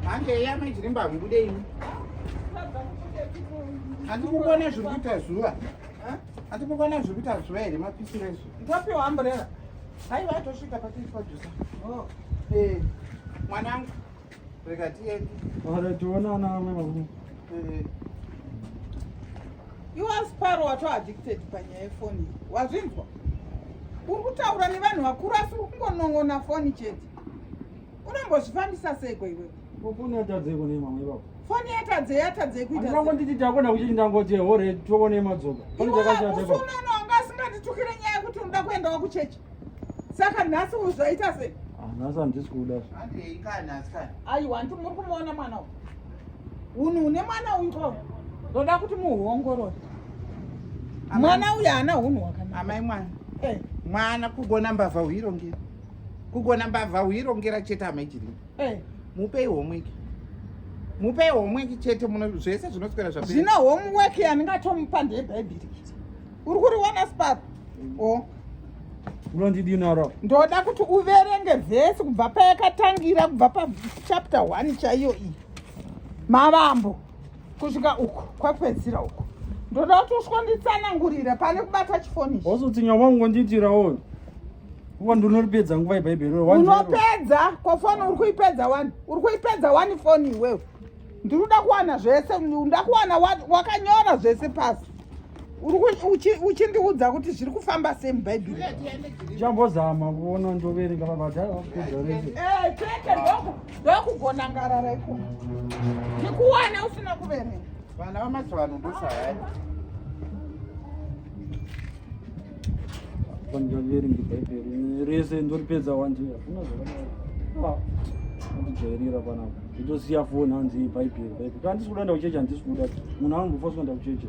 hange eya mai chiremba hamubude ini handikukona zviri kuita zuva handikukona zviri kuita zuva here mapisiro ezvo ndopiwa amburera haiva atosvika patiipadusa oh. eh, mwanangu rega tiende ore tionana vamwe varume eh. iwas paro watoaddicted panyaya yefoni wazvinzwa uri kutaura nevanhu vakuru asi uri kungonon'ona foni chete unombozvifambisa seiko iwe foni yatadzeko nemamwe ipapo foni yatadze yatadze kuitangonditi takona kuchiti ndangoti hore toko nemadzoka foni dzakashatausumano anga asinganditukire nyaya yekuti unoda kuendawo kuchechi saka nhasi uzvaita sei ah, nhasi handisi kuda aiwa ndi muri kumuona mwana uyu unhu une mwana uyu ko ndoda kuti muhuongorore mwana uyu haana unhu hwakanaa amai mwana eh. mwana kugona mbavha huirongeri kugona mbavha huirongera chete amai chiri hey. Eh. mupei homework mupei homework chete muno zvese zvinoswera zva zvino homework yandingatomupa ndebhaibhiri uri kuriwana spap mm. o oh. unondidinoro ndoda kuti uverenge vhesi kubva payakatangira kubva pachapter one chaiyo iyi mavambo kusvika uku kwapedzira uku ndoda kuti usvonditsanangurira pane kubata chifoni ozotinya wangu ngondiitirawo Uko ndinopedza nguva ibhaibheri wewe. Unopedza ko phone uri kuipedza wani? Uri kuipedza wani phone iwewe? Ndiri kuda kuwana zvese, nda kuwana wakanyora zvese pasi. Uri uchindiudza kuti zviri kufamba sei mubhaibheri? Chambozama kuona ndoverenga mabadhara vakupedza rese. Eh, chete ndoku ndokugona ngarara iko. Ndikuwana usina kuverenga. Vana vamazuva ano ndosayani. rese ndoripedza wanje hakuna zvakadaro ndijairira panapa nditosiya foni hanzi bhaibheri bhaibheri kana ndisikuda ndakuchecha handisikuda munhu anongofa sikuda ndakuchecha